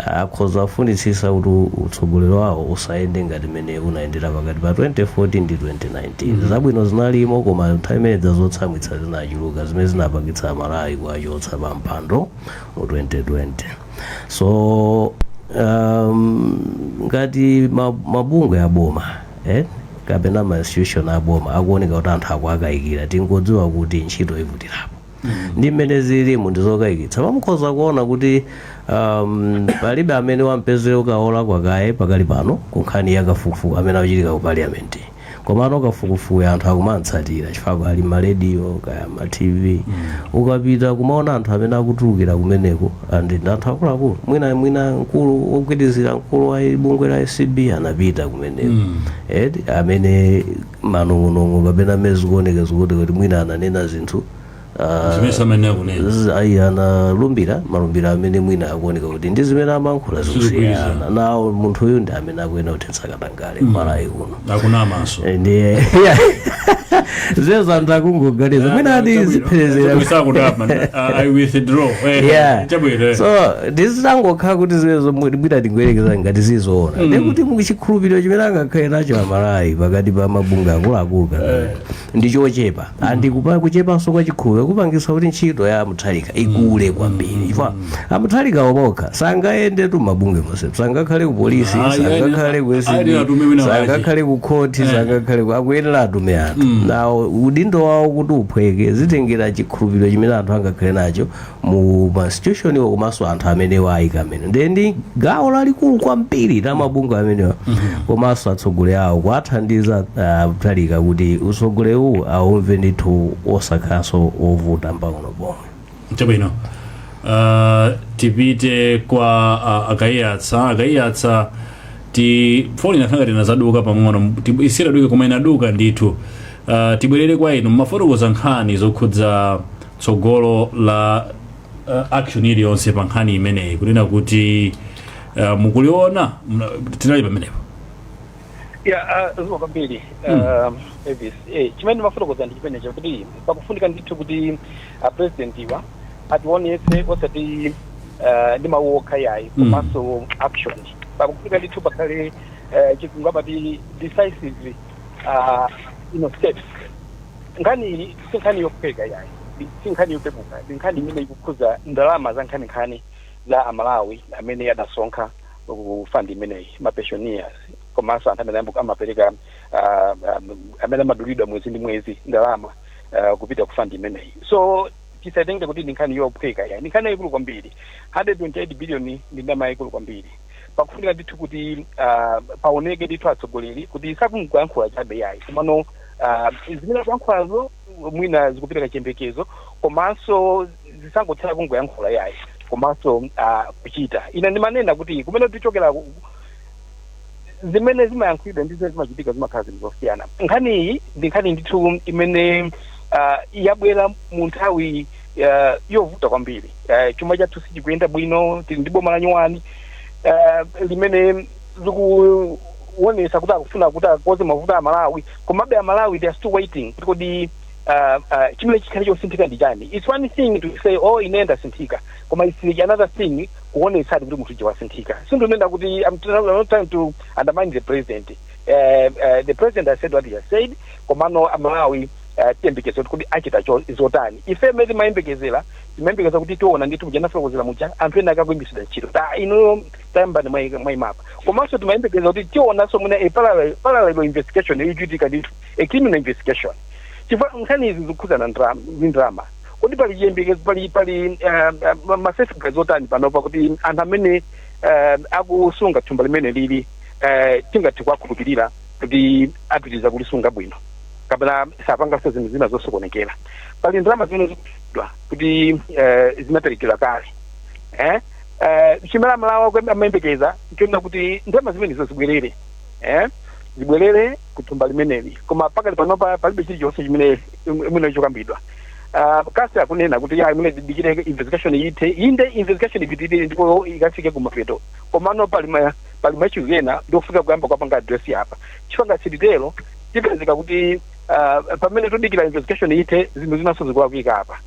S4: Akhoza kufunitsitsa kuti utsogoleri wawo usayende ngati mmene unayendera pakati pa 2014 ndi 2019. Zabwino zinalimo koma nthawi imene ija zotsamwitsa zinachuluka zimene zinapangitsa Amalawi kuwachotsa pa mpando mu 2020. So um, ngati ma, mabungwe aboma eh, kapena ma institution aboma akuoneka kuti anthu akuwakayikira tingodziwa kuti ntchito ivutirapo. ndi mmene zililimu ndi zokayikitsa pa mukhoza kuona kuti um, palibe amene wapezeredwa kulakwa kaye pakali pano ku nkhani ya kafukufuku amene akuchitika ku parliament komano kafukufukuyu anthu akumamutsatira chifukwa ali m'marediyo kaya ma tv ukapita kumaona anthu amene akutulukira kumeneko and ndi anthu akuluakulu mwina mwina mkulu wogwirizira mkulu wa bungwe la acb anapita kumeneko edi amene manong'onong'o kapena mmene zikuoneka zikuoneka kuti mwina ananena zinthu ah, zimene samene akunena z- ayi analumbira malumbiro amene mwina akuoneka kuti ndi zimene amankhula zikusiyana nawo munthu uyu ndi amene akuyenera kuthetsa katangale Malawi kuno akunamanso Eh, ndiye zimenezo anthu akungoganiza mwina akuzipherezera sakutapa i withdraw Eh, Yeah. chabwino eh. so ndizitangokhala kuti zimenezo mwina tingoyerekeza ngati zili zoona ndiye kuti chikhulupiriro chimene angakhale nacho amalawi pakati pa mabungwe akuluakulu kana ndi chochepa and kupa kuchepanso kwa chikhulupiriro kupangisa kuti ntchito ya a Mutharika ikule kwambiri chifukwa a Mutharika mwaokha sangayendetu m'mabungwe monse sangakhale ku polisi Ah, yani, sangakhale ku ACB, ayenera atume wina wake. sangakhale ku khoti sangakhale ku akuyenera atume anthu nde udindo wawo kuti uphweke zitengera chikhulupiriro chimene anthu angakhale nacho mu institutioniwo komanso anthu amene awayika amene ndiye ndi gawo lalikulu kwambiri la mabungwe amenewa komanso atsogoleri awo kuwathandiza ah, Mutharika kuti utsogoleri uwu aumve ndithu osakhalanso ovuta mpang'ono pomwe
S1: chabwino uh, tipite kwa uh, akaiyatsa Kaiyatsa telefoni inakhala ngati inazaduka pang'ono Ti- isiye duke koma inaduka ndithu uh, tibwerere kwa inu mumafotokoza nkhani zokhudza tsogolo la uh, action iliyonse pa nkhani imeneyi kunena kuti uh, mukuliona mna- tinali pamenepo ya uh, zikomo
S5: kwambiri uh, Elvis eh, chimene ndimafotokoza ndi chimenecho chakuti pakufunika ndithu kuti apresidentiwa ationetse osati uh, ndi mawu okha yayi Mm. komanso action pakufunika ndithu pakhale uh, chizungu amati decisive uh, you know, steps nkhani iyi si nkhani yophweka yayi ndi si nkhani yopepuka ndi nkhani imene ikukhuza ndalama za nkhaninkhani za amalawi amene adasonkha ku fund imeneyi ma pensioners komanso anthu amene ambu- amapereka ah, ah, amene amadulidwa mwezi ndi mwezi ndalama ah, kupita ku fund imeneyi so tisatenge kuti ndi nkhani yophweka yayi ndi nkhani yayikulu kwambiri 128 billion ndi ndalama yayikulu kwambiri pakufunika ndithu kuti ah, paoneke ndithu atsogoleri kuti sakungoyankhula chabe yayi komano ah, zimene akuyankhulazo mwina zikupereka chiyembekezo komanso zisangotsala kungoyankhula yayi komanso ah, kuchita ine ndimanena kuti kumene tikuchokera ku- zimene zimayankhulidwa ndi zimene zimachitika zimakhala zinthu zosiyana nkhani iyi ndi nkhani ndithu imene ah, yabwera mu nthawi ah, yovuta kwambiri Ah, chuma chathu sichikuyenda bwino tili ndi boma lanyuwani ah, limene likuonesa kuti akufuna kuti akonze mavuto a malawi komabe amalawi they are still waiting kuti kodi uh, uh, chimene chikhale chosinthika ndi chani its one thing to say oh ine ndasinthika koma its another thing kuonetsadi kuti munthu wasinthika sindikunena kuti I'm tr- I'm not trying to undermine the president uh, uh, the president has said what he has said komano amalawi uh, tiyembekeza kuti kodi achita zotani ife mmene timayembekezera timayembekeza kuti tiona ndithu muja anafotokozera muja anthu ena akanaimitsidwa ntchito ta ino tayambani mwayi- mwayima apa komanso timayembekeza kuti tionanso mwina a parallel- parallel investigation ichitika ndithu a criminal investigation chifukwa nkhani izi zikukhudzana nda- ndi ndalama kodi pali chiyembekezo pali pali masafeguards otani panopa kuti anthu amene eh, akusunga thumba limeneli eh, tingathe kuwakhulupirira kuti apitiriza kulisunga bwino kapena sapanganso zinthu zina zosokonekera pali ndalama zimene zikunenedwa kuti eh, zinaperekedwa kale eh? eh, chimene aMalawi amayembekeza nchoona kuti ndalama zimenezo zibwerere eh, zibwerere ku thumba limeneli koma pakali panopa palibe chilichonse chimene chokambidwa Ah, Kase akunena kuti ya imene tidikire investigation ithe inde investigation ipitirire ndipo ikafike kumapeto komano pali ma- pali ma issue ena ndi ofunika kuyamba kwapanga address apa chifukwa tikatero tipezeka kuti ah, pamene tudikira investigation ithe zinthu zinanso zikulakwika apa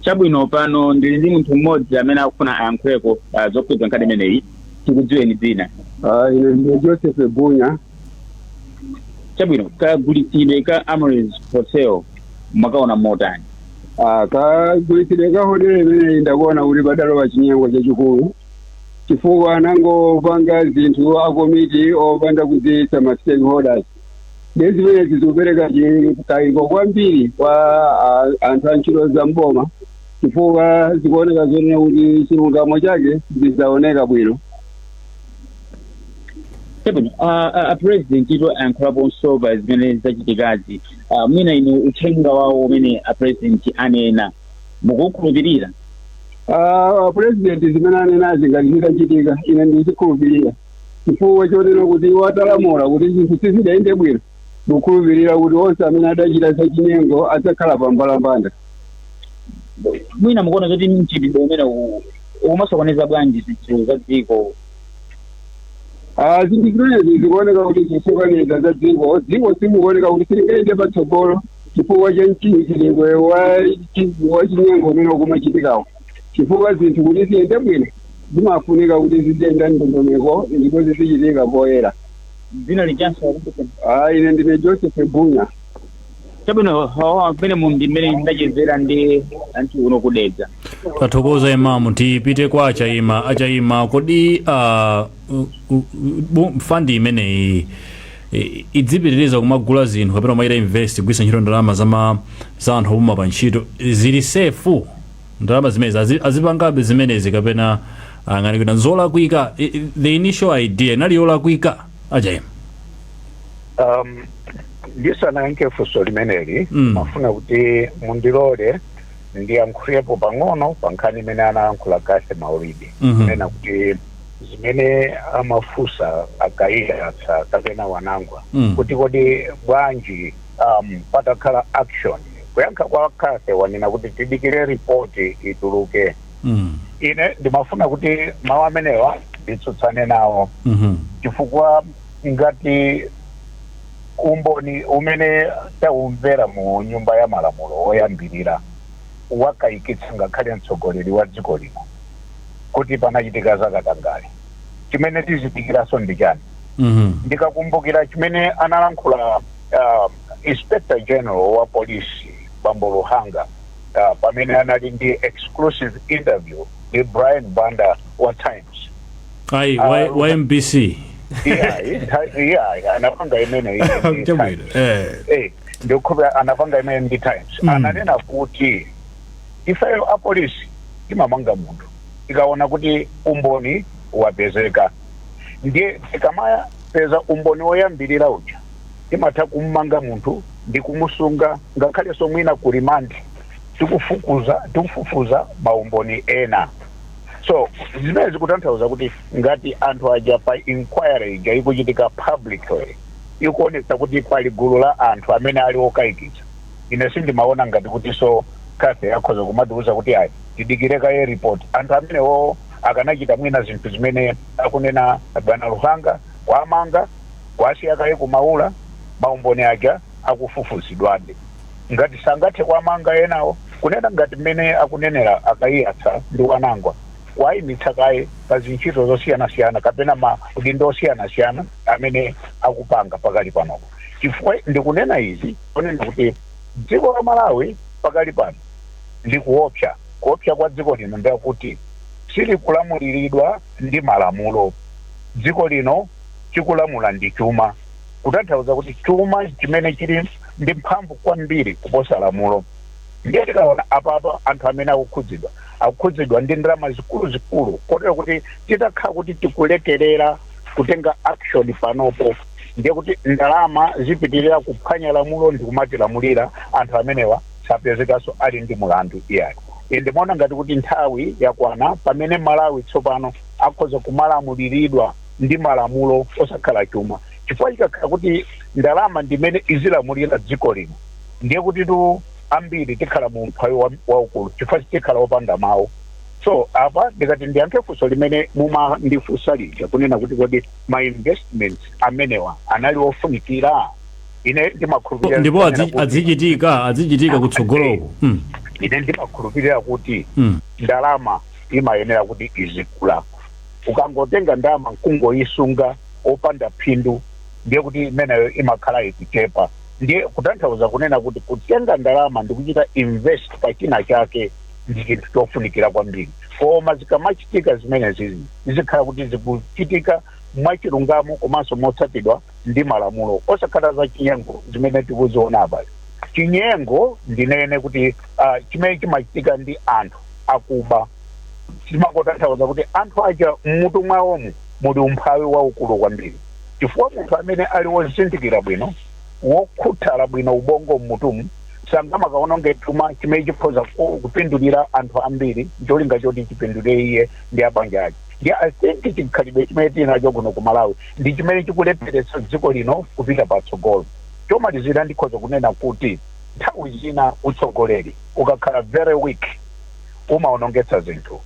S6: chabwino pano ndili ndi munthu mmodzi amene akufuna ayankhuleko uh, zokhudza nkhani imeneyi tikudziweni dzina Ah, ine ndine
S8: Joseph Bunya
S6: chabwino kagulitsidwe ka Amaryllis Hotel mwakaona motani Ah,
S8: kagulitsidwe ka hotele imeneyi ndakuona kuti padalowa chinyengo chachikulu chifukwa anangopanga zinthu akomiti opanda kudziwitsa ma stakeholders ndiye zimenezi zikupereka chikayiko kwambiri kwa ah, anthu a ntchito za mboma chifukwa zikuoneka zonena kuti chilungamo chake sichidzaoneka
S6: bwinobwino uh, uh, a president ito ayankhulaponso pa zimene zachitikazi uh, mwina inu uthenga wawo umene a president anena mukukhulupirira
S8: Ah, president zimene anenazi ngati zitachitika ine ndizikhulupirira chifukwa chonena kuti iwo atalamula kuti zinthu sizidayende bwino ndikukhulupirira kuti onse amene adachita zachinyengo adzakhala pa mbalambanda
S6: mwina mukuona zoti mchitidwe umene uwu ukumasokoneza bwanji zinthu za dziko Ah,
S8: zinthu zimenezi zikuoneka kuti zikusokoneza za dziko dziko limaoneka kuti silingayende patsogolo chifukwa cha mchitidwe wa chi- wa chinyengo umene ukumachitikawo chifukwa zinthu kuti ziyende bwino zimafunika kuti ziziyenda mʼndondomeko ndipo zizichitika poyera dzina lijanso
S6: Ah, ine ndine
S8: Joseph Bunya chabwino
S6: hawa pamene mu ndi mmene ndachezera ndi anthu uno ku Dedza
S1: tathokoza Imamu tipite kwa a Chaima a Chaima kodi ah, u- u- u- bu- fandi imeneyi i- idzipitiriza kumagula zinthu kapena kumachita invest kugwiritsa ntchito ndalama zama za anthu opuma pa ntchito zili sefu ndalama zimenezi azi- azipangabe zimenezi kapena mukuganiza kuti nzolakwika I- i- the initial idea inali yolakwika a Chaima
S2: um, ndisanayankhe funso limeneli Mm. ndimafuna kuti mundilole ndiyankhulepo pang'ono pa nkhani imene anayankhula Kase Maulidi Mhm. kunena kuti zimene amafunsa a Kaiyatsa kapena Wanangwa mm. kuti kodi bwanji um, patakhala action kuyankha kwa Kase wanena kuti tidikire ripoti ituluke mm. ine ndimafuna kuti mawu amenewa nditsutsane nawo mm -hmm. chifukwa ngati umboni umene taumvera mu nyumba ya malamulo woyambirira wakayikitsa ngakhale mtsogoleri wa dziko lino kuti panachitika zakatangale chimene tizidikiranso ndi chani Mhm. ndikakumbukira chimene analankhula uh, inspector general wa polisi bambo luhanga uh, pamene anali ndi exclusive interview ndi brian banda wa times
S1: ayi wa, Ah, wa mbc iyayi
S2: anapanga imeneyi ndi Chabwino. Times. Eh. Eh, ndikukhulupira anapanga imene ndi times ananena kuti Ifeyo apolisi timamanga munthu tikaona kuti umboni wapezeka. Ndiye tikamapeza umboni woyambirira uja, timatha kum'manga munthu ndi kumusunga ngakhalenso mwina ku remand tikufukuza, tikufufuza maumboni ena. So, zimenezi zikutanthauza kuti ngati anthu aja pa inquiry ija ikuchitika publicly, ikuonetsa kuti pali gulu la anthu amene ali okayikitsa. ine sindimaona ngati kutiso kathy akhoza kumatiuza kuti ayi tidikire kaye report anthu amenewo akanachita mwina zinthu zimene akunena bwana luhanga kuwamanga kuwasiya kaye ku Maula maumboni aja akufufuzidwabe ngati sangathe kuwamanga enawo kunena ngati mmene akunenera a Kaiyatsa ndi a Mwanangwa kuwayimitsa kaye pa zintchito zosiyanasiyana kapena ma udindo osiyanasiyana amene akupanga pakali panopo chifukwa ndikunena izi kunena kuti dziko la Malawi pakali pano likuopsa. Kuopsa kwa dziko lino ndi kwakuti silikulamuliridwa ndi malamulo. Dziko lino chikulamula ndi chuma, kutanthauza kuti chuma chimene chili ndi mphamvu kwambiri kuposa lamulo. Ndiye tikaona apapa anthu amene akukhudzidwa, akukhudzidwa ndi ndalama zikuluzikulu kotero kuti titakhala kuti tikulekerera kutenga action panopo, ndiye kuti ndalama zipitirira kuphwanya lamulo ndi kumatilamulira anthu amenewa sapezekanso ali ndi mulandu iyayi ine ndimaona ngati kuti nthawi yakwana pamene malawi tsopano akhoza kumalamuliridwa ndi malamulo osakhala chuma chifukwa chikakhala kuti ndalama ndimene izilamulira dziko lino ndiye kutitu ambiri tikhala mu umphawi wa- waukulu chifukwa tikhala opanda mawu so apa ndikati ndiyankhe funso limene mumandifunsa lija kunena kuti kodi ma investments amenewa anali ofunikira ine ndimakhulupirira ndipo
S1: azichitika azichitika kutsogoloko mm. ine
S2: ndimakhulupirira kuti Mm. ndalama imayenera kuti izikula ukangotenga ndalama nkungoyisunga opanda phindu ndiye kuti imeneyo imakhala ikuchepa ndiye kutanthauza kunena kuti kutenga ndalama ndikuchita invest pa china chake ndi chinthu chofunikira kwambiri koma zikamachitika zimenezi zizikhala kuti zikuchitika mwachilungamo komanso motsatidwa ndi malamulo osakhala za chinyengo zimene tikuziona apazi chinyengo ndinene kuti uh, chimene chimachitika ndi anthu akuba zimangotanthauza kuti anthu aja mmutu mwawomu muli umphawi waukulu kwambiri chifukwa munthu amene ali wozindikira bwino Wokhuthala bwino ubongo m'mutumu sangamakawononge chuma chimene chikhoza kupindulira anthu ambiri n'cholinga choti chipindulire iye ndi a banja ake. Ndiye I think chikhalidwe chimene tili nacho kuno ku Malawi ndi chimene chikulepheretsa dziko lino kupita patsogolo. Chomalizira ndikhoza kunena kuti nthawi zina utsogoleri ukakhala very weak umawonongetsa zinthu.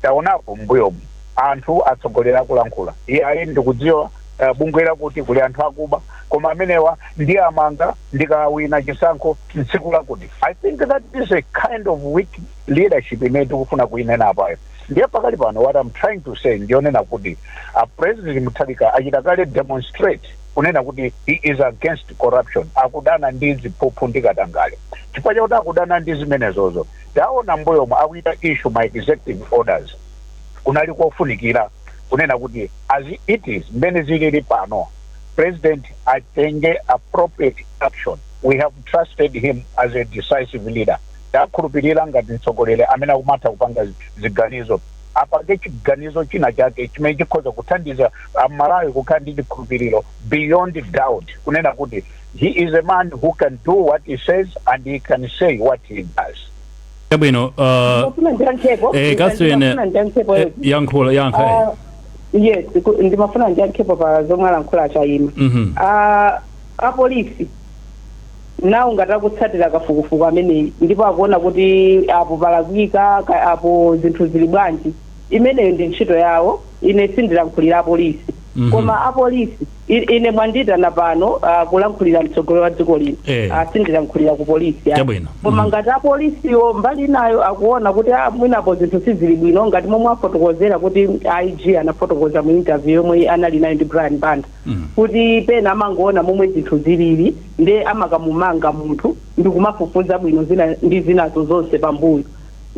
S2: Taonapo m'mbuyomu anthu atsogoleri akulankhula, iyayi ndikudziwa. uh, bungwe lakuti kuli anthu akuba koma amenewa ndiwamanga ndikawina chisankho tsiku lakuti i think that is a kind of weak leadership imene tikufuna kuinena apayo ndiye pakali pano what i'm trying to say ndiyonena kuti a president mutharika achita kale demonstrate kunena kuti he is against corruption akudana ndi ziphuphu ndi katangale chifukwa chakuti akudana ndi zimenezozo taona m'mbuyomu akuchita issue ma executive orders kunali kofunikira kunena kuti as it is mmene zilili pano president atenge appropriate action we have trusted him as a decisive leader tawakhulupirira ngati mtsogoleri amene akumatha kupanga zi- ziganizo apange chiganizo china chake chimene chikhoza kuthandiza amalawi kukhala ndi chikhulupiriro beyond doubt kunena kuti he is a man who can do what he says and he can say what he does Chabwino,
S1: uh, ndimafuna ndiyankhepo eh, Catherine, ndimafuna ndiyankhepo eh, yankhula, yankha. eh. Ah, yes ku-
S3: ndimafuna ndiyankhepo pa zomwe alankhula a chayima Mhm. Ah, apolisi nawo ngati akutsatira kafukufuku ameneyi ndipo akuona kuti apo palakwika ka- apo zinthu zili bwanji imeneyo ndi ntchito yawo ine sindilankhulira apolisi Mhm. koma apolisi I- ine mwandiyitana pano ah, kulankhulira mtsogoleri wa dziko lino Eh. Ah, sindilankhulira ku polisi ah. Chabwino. koma Mhm. ngati apolisiwo mbali inayo akuona kuti ah, mwinapo zinthu sizili bwino ngati momwe afotokozera kuti ig anafotokoza mu interview yomwe anali nayo ndi brian banda Mhm. kuti pena amangoona momwe zinthu zilili nde amakamumanga munthu ndi kumafufuza bwino zina ndi zinazo zonse pambuyo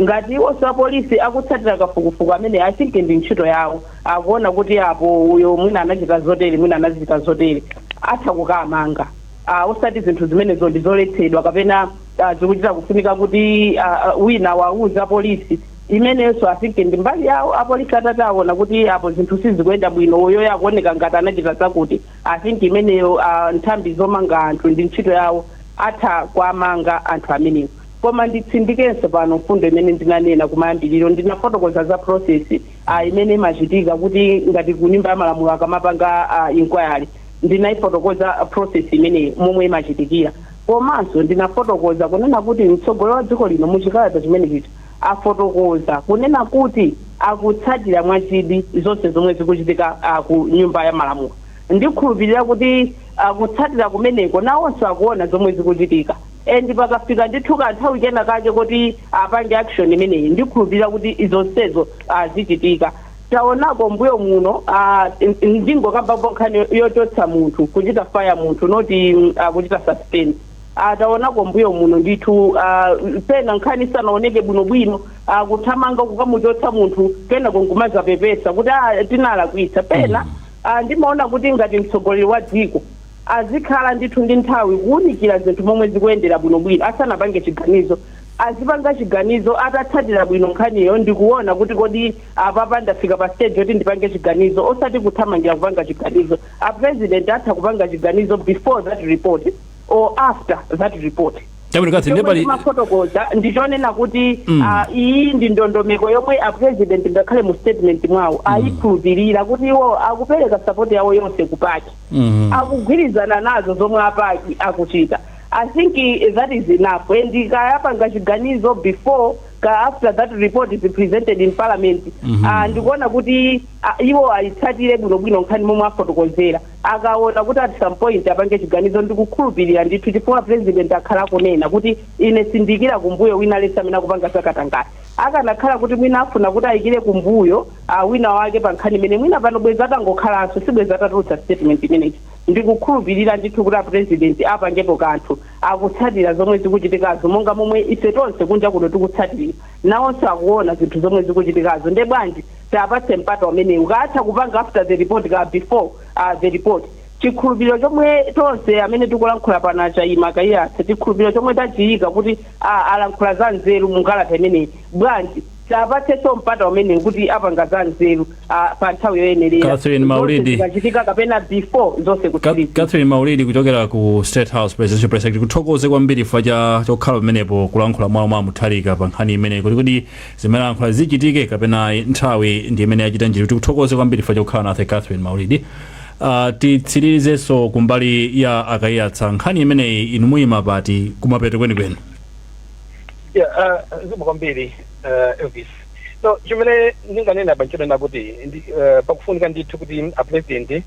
S3: Ngati iwonso apolisi akutsatira kafukufuku ameneyi I think ndi ntchito yawo, akuona kuti apo uyo mwina anachita zotere, mwina anazichita zotere, atha kukawamanga. a Osati zinthu zimenezo ndi zoletsedwa kapena a zikuchita kufunika kuti a wina awauze apolisi, imeneyonso I think ndi mbali yawo. Apolisi atati aona kuti apo zinthu sizikuyenda bwino, uyoyo akuoneka ngati anachita zakuti, I think imeneyo a nthambi zomanga anthu ndi ntchito yawo, atha kuwamanga anthu amenewo. Koma nditsindikenso pano mfundo imene ndinanena kumayambiriro, ndinafotokoza za process a imene imachitika kuti ngati ku nyumba ya malamulo akamapanga a inquiry ndinaifotokoza process imeneyo momwe imachitikira. Komanso ndinafotokoza kunena kuti mtsogoleri wa dziko lino mu chikalata chimene chija afotokoza kunena kuti akutsatira mwachidwi zonse zomwe zikuchitika a ku nyumba ya malamulo. Ndikhulupirira kuti a kutsatira kumeneko nawonso akuona zomwe zikuchitika. And pakafika ndithu kanthawi kena kake koti apange action imeneyi ndikhulupilira kuti zonsezo ah, zichitika. Taonako mbuyo muno ah, n- ndingokambapo nkhani yo- yochotsa munthu kuchita fire munthu not mm, ah, kuchita suspend Ah, taonako mbuyo muno ndithu ah, pena nkhani isanaoneke bwinobwino ah, kuthamanga kukamuchotsa munthu kenako nkumazapepesa kuti ah, tinalakwitsa pena ah, ndimaona kuti ngati mtsogoleri wa dziko Azikhala ndithu ndi nthawi kuunikira zinthu momwe zikuyendera bwinobwino asanapange chiganizo. Azipanga chiganizo atatsatira bwino nkhaniyo ndi kuona kuti kodi apapa ndafika pa stage yoti ndipange chiganizo osati kuthamangira kupanga chiganizo. A President atha kupanga chiganizo before that report or after that report. Chabwino, Catherine, ndiye Chomwe pali ndimafotokoza ndi chonena kuti ah, iyi ndi ndondomeko yomwe a President ngakhale mu statement mwawo aikhulupirira kuti iwo akupereka support yawo yonse ku PAC. Mhm. akugwirizana nazo zomwe a PAC akuchita i think eh, that is enough and kaya apanga chiganizo before kaya after that report is presented in parliament Mhm. ah, ndikuona kuti ah, iwo ayitsatire bwinobwino nkhani momwe afotokozera akaona kuti at some point apange chiganizo ndikukhulupirira ndithu chifukwa a president akhala akunena kuti ine sindiikira kumbuyo wina aliyense amene akupanga zakatangati akanakhala kuti mwina afuna kuti ayikire kumbuyo a wina wake pa nkhani imeneyi mwina pano bwezi atangokhalanso sibwezi atatulutsa statement imeneyi ndikukhulupilira ndithu kuti a president apangepo kanthu akutsatira zomwe zikuchitikazo monga momwe ife tonse kunja kuno tikutsatirira nawonso akuona zinthu zomwe zikuchitikazo nde bwanji tiapatse mpata umenewu kaya atha kupanga after the report kaya before uh, the report chikhulupiriro chomwe tonse amene tikulankhula pano a Chaima a Kaiyatsa chikhulupiriro chomwe tachiyika kuti ah, alankhula za nzeru mukalata imeneyi bwanji tiapatsenso mpata umenewu kuti apanga za nzeru ah, pa nthawi yoyenerera Catherine zonse Maulidi
S1: zikachitika
S3: kapena before zonse Ka- kutsiriza catherine maulidi kuchokera
S1: ku state house presidential press secretary tikuthokoze kwambiri chifukwa chokhala pamenepo kulankhula kwawo kwa Mutharika pa nkhani imeneyi kuti kodi zimene alankhula zichitike kapena ayi, nthawi ndi imene yachita njira tikuthokoze kwambiri chifukwa chokhala nafe catherine maulidi Uh, titsirizenso kumbali ya a Kaiyatsa nkhani imeneyi inu muyima pati kumapeto kwenikweni
S5: Yeah, uh, zikomo kwambiri uh, Elvis. So chimene ndinganena apa nchonena kuti uh, pakufunika ndithu kuti a president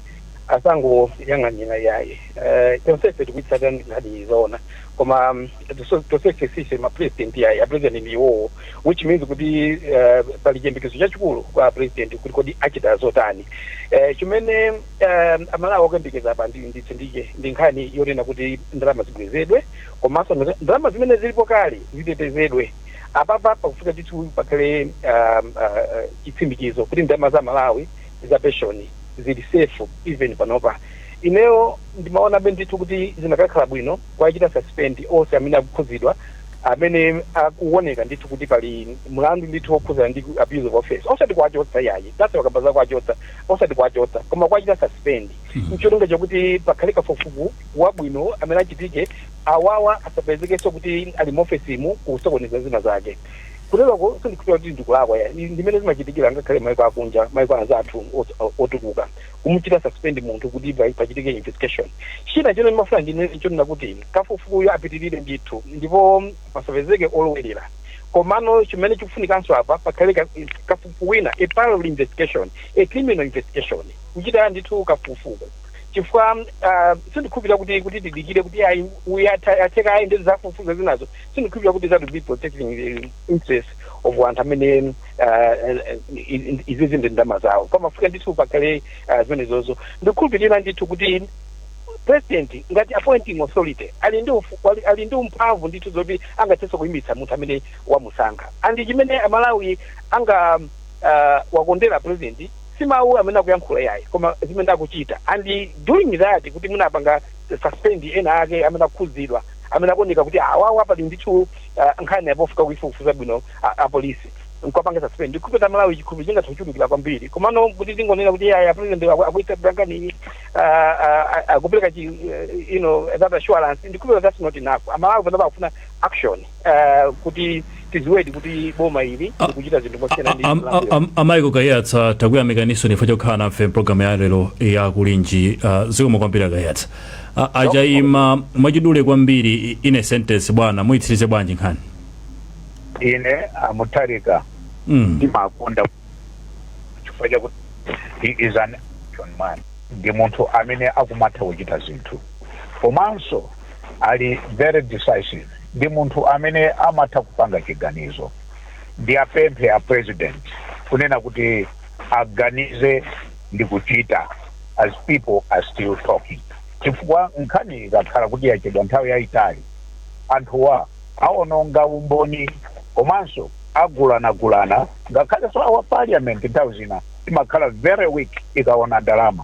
S5: asangoyang'anira yayi. Uh, tonsefe tikuitsatira nkhaniyi zoona koma um, tonse- tonsefe sife ma president yayi a president ndi iwowo which means kuti uh, pali chiyembekezo chachikulu kwa a president kuti kodi achita zotani. Uh, chimene um, Amalawi akuyembekeza apa nditsindike ndi nkhani yonena kuti ndalama zibwezedwe komanso ndalama zimene zilipo kale zitetezedwe. Apapa pakufunika ndithu pakhale chitsimikizo kuti ndalama za Amalawi za pension zili safe even panopa. Ineyo ndimaonabe ndithu kuti zinakakhala bwino kuwachita suspend onse amene akukhudzidwa amene akuoneka ndithu kuti pali mlandu ndithu wokhudzana ndi abuse of office osati kuwachotsa yayi that's why ndakamba za kuwachotsa osati kuwachotsa koma kuwachita suspend n'cholinga chakuti pakhale kafukufuku wabwino amene achitike awawa asapezekenso kuti ali muofesimu kusokoneza zina zake kuteroko sindikhulupira kuti ndikulakwa yayi ndi mmene zimachitikira ngakhale maiko akunja maiko anzathu os- o- otukuka kumuchita suspend munthu kuti pa- pachitike investigation china chomwe ndimafuna ndinene nchonena kuti kafukufukuyu apitirire ndithu ndipo pasapezeke olowerera komano chimene chikufunikanso apa pakhale ka- kafukufuku wina a parallel investigation a criminal investigation kuchita ndithu kafukufuku chifukwa ah, sindikhulupirira kuti kuti tidikire kuti ayi uyu atha- atheka ayi ndi zafufuza zinazo sindikhulupirira kuti that will be protecting the interest of anthu amene ah, eh, eh, izi ndi ndalama zawo pamafunika ndithu pakhale ah, zimenezozo ndikhulupirira ndithu kuti president ngati appointing authority ali ndi ufu- ali- ali ndi mphamvu ndithu zoti angathenso kuyimitsa munthu amene wamusankha and chimene Amalawi anga- ah, awakondera president si mawu amene akuyankhula yayi koma zimene akuchita and doing that kuti mwina apanga suspend ena ake amene akukhudzidwa amene akuoneka kuti awawa pali ndithu uh, nkhani yofunika kuifufuza bwino a- apolisi nkwapanga suspend ndikhulupira Amalawi chikhulupiro chingathe kuchulukira kwambiri komano kuti tingonena kuti ayayi a president aku- akuitsatira nkhaniyi akupereka chi eh, you know that assurance ndikhulupira that's not enough Amalawi panopa akufuna action ah, kuti tidziwedi kuti boma ili Ah, likuchita zinthu mosiyana ndi Am- Malawi. am- a Michael
S1: Kaiyatsa takuyamikaninso chifukwa chokhala nafe mpulogalamu ya lero ya Kulinji ah, zikomo kwambiri a Kaiyatsa Ah, a Chaima mwachidule kwambiri i- in a sentence bwana muyitsirize bwanji
S2: nkhaniyi ine a Mutharika Mm. ndimawakonda chifukwa chakuti he is an action man ndi munthu amene akumatha kuchita zinthu komanso ali very decisive ndi munthu amene amatha kupanga chiganizo. Ndiapemphe a president kunena kuti aganize ndikuchita as people are still talking chifukwa nkhani ikakhala kuti yachedwa nthawi yayitali anthuwa awononga umboni komanso agulanagulana ngakhalenso our parliament nthawi zina imakhala very weak ikawona ndalama.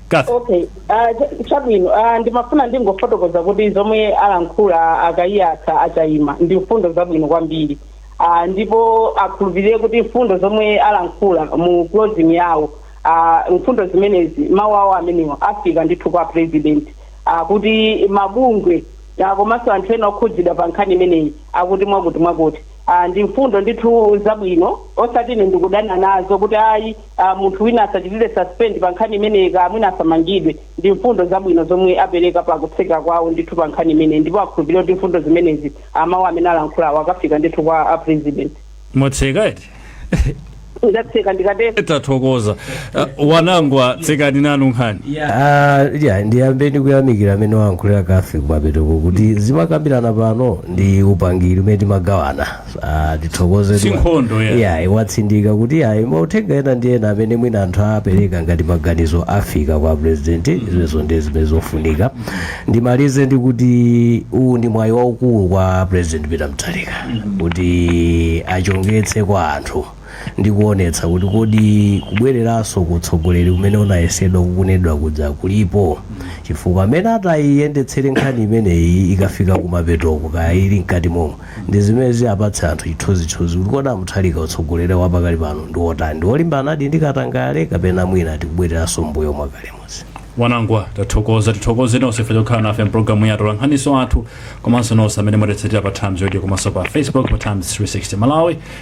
S1: Kathy. okay ah,
S3: cha- chabwino ah, ndimafuna ndingofotokoza kuti zomwe alankhula a Kaiyatsa a Chayima ndi mfundo zabwino kwambiri ah, ndipo akhulupirire kuti mfundo zomwe alankhula mu closing yawo ah, mfundo zimenezi mawu awo amenewo afika ndithu kwa president ah, kuti mabungwe ah, komanso anthu ena okhudzidwa pa nkhani imeneyi akuti mwakuti mwakuti ah, ndi mfundo ndithu zabwino osati ine ndikudana nazo kuti ayi ah, munthu wina asachitidwe suspend pa nkhani imeneyi ka mwina asamangidwe ndi mfundo zabwino zomwe apereka pa kutseka kwawo ndithu pa nkhani imeneyi ndipo akhulupirire kuti mfundo zimenezi amawu amene alankhulawo akafika ndithu kwa a president mwatseka eti ndatseka ndikatero
S1: tathokoza uh, wanangwa tsekani nanu nkhani Ah,
S4: ya ndiyambe ndikuyamikira mmene wayankhulira Kathy kumapetoko kuti zimakambirana pano ndi upangiri umene timagawana Ah, tithokoze Si nkhondo,
S1: yeah. yeah,
S4: watsindika kuti ayi mauthenga ena ndi ena amene mwina anthu apereka ngati maganizo afika kwa president zimenezo ndi zimene zofunika ndimalize ndi kuti uwu ndi mwayi waukulu kwa president peter mutharika kuti adzichongetse kwa anthu ndi kuonetsa kuti kodi kubwereranso ku utsogoleri umene unayesedwa kukunedwa kuja kulipo chifukwa mmene atayiyendetsere nkhani imeneyi ikafika kumapetoko kaya ili mkati momwe ndi zimene ziyapatse anthu chithunzithunzi kuti kodi a mutharika utsogoleri wa pakali pano ndi wotani ndi wolimbanadi ndi katangale kapena mwina tikubwereranso mbuyo mwakale muja
S1: wanangwa tathokoza tithokoze nonse ife pokhala nafe mpulogalamu atolankhani anzathu komanso nonse amene mwatitsatira pa times radio komanso pa facebook pa times 360 malawi